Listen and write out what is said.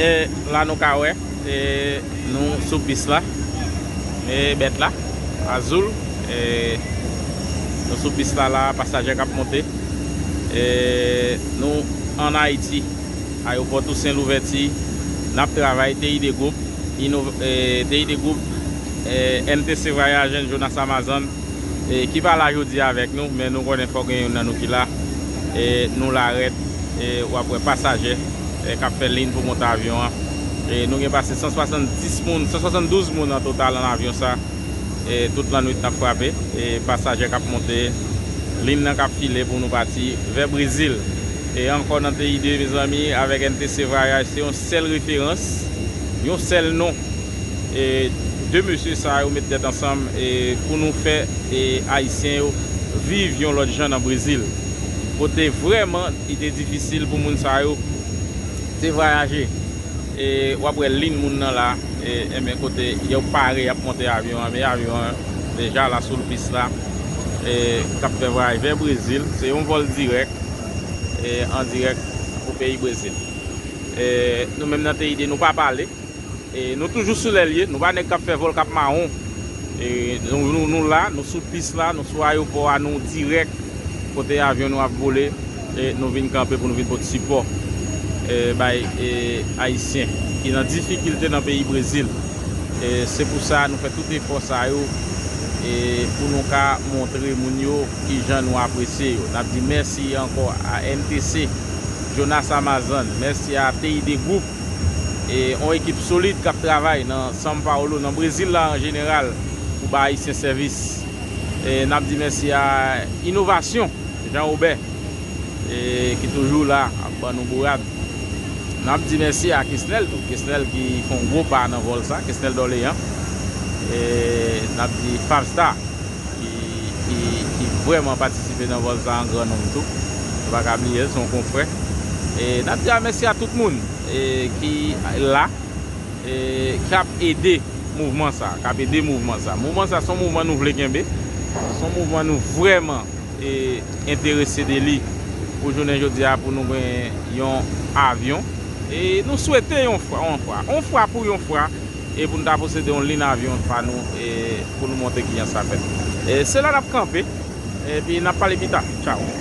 E la nou ka wè e nou sou pis la e bèt la Azul e nou sou pis la la pasaje kap monte. Nou an Ayiti, Ayewopò Tousen Louvèti, n ap travay TID Group, TID Group, MTC Vwayaj and Jonas Amazon, ki pa la jodi a avèk nou, men nou konnen fòk gen youn nan nou ki la. Nou la rèd, w ap wè pasaje k ap fè lin pou monte avyon an. Nou gen pase 170 moun, 172 moun an total an avyon sa. e tout lannwit nap frape e pasaje kap monte lin nan kap file pou nou pati vè brezil e ankò nan TID mezanmi avèk NTC vayaj se yon sèl referans yon sèl non e 2 mesye sa yo met tèt ansanm e pou nou fè e ayisyen yo viv yon lòt jan nan brezil kote vrèman li te difisil pou moun sa yo te vayaje. E wap wè lynn moun nan la enben kote yo pare yap monte avyon an men avyon an deja la soul pis la e kap fè vwayaj vè brezil se yon vòl dirèk e an dirèk pou peyi brezil e nou menm nan TID nou pa pale e nou toujou sou lèlye nou pa nèg kap fè vòl kap mawon e nou la nou sou pis la nou sou ayopò a nou dirèk kote avyon nou ap vole. Nou vin kanpe pou nou vin pot sipò bay Ayisyen ki nan difikilte nan peyi Brezil. Se pou sa nou fè tout efò sa yo pou nou ka montre moun yo ki jan nou apresye yo. N ap di mèsi ankò a MTC, Jonas Amazan, mèsi a TID Group, yon ekip solid k ap travay nan São Paulo, nan Brezil la an jeneral, pou bay Ayisyen sèvis. N ap di mèsi a Inovasyon. Jean Robert ki toujou la ap ban nou bourad. N ap di mèsi a Kesnel tou. Kesnel ki fè yon gwo pa nan vòl sa. Kesnel Dorlean. E n ap di Fabstar ki vrèman patisipe nan vòl sa an gran nonm tou. Nou pa ka bliye l, se yon konfrè. E n ap di mèsi a tout moun ki la, k ap ede mouvman sa. K ap ede mouvman sa. Mouvman sa se yon mouvman nou vle kenbe. Se yon mouvman nou vrèman. e enterese de li pou jounen jodi a pou nou gen yon avyon e nou swete yon fwa yon fwa yon fwa pou yon fwa e pou nou ta posede yon lin avyon pa nou e pou nou montre kijan sa fèt e se la nap kanpe e pi nap pale pita tchaw.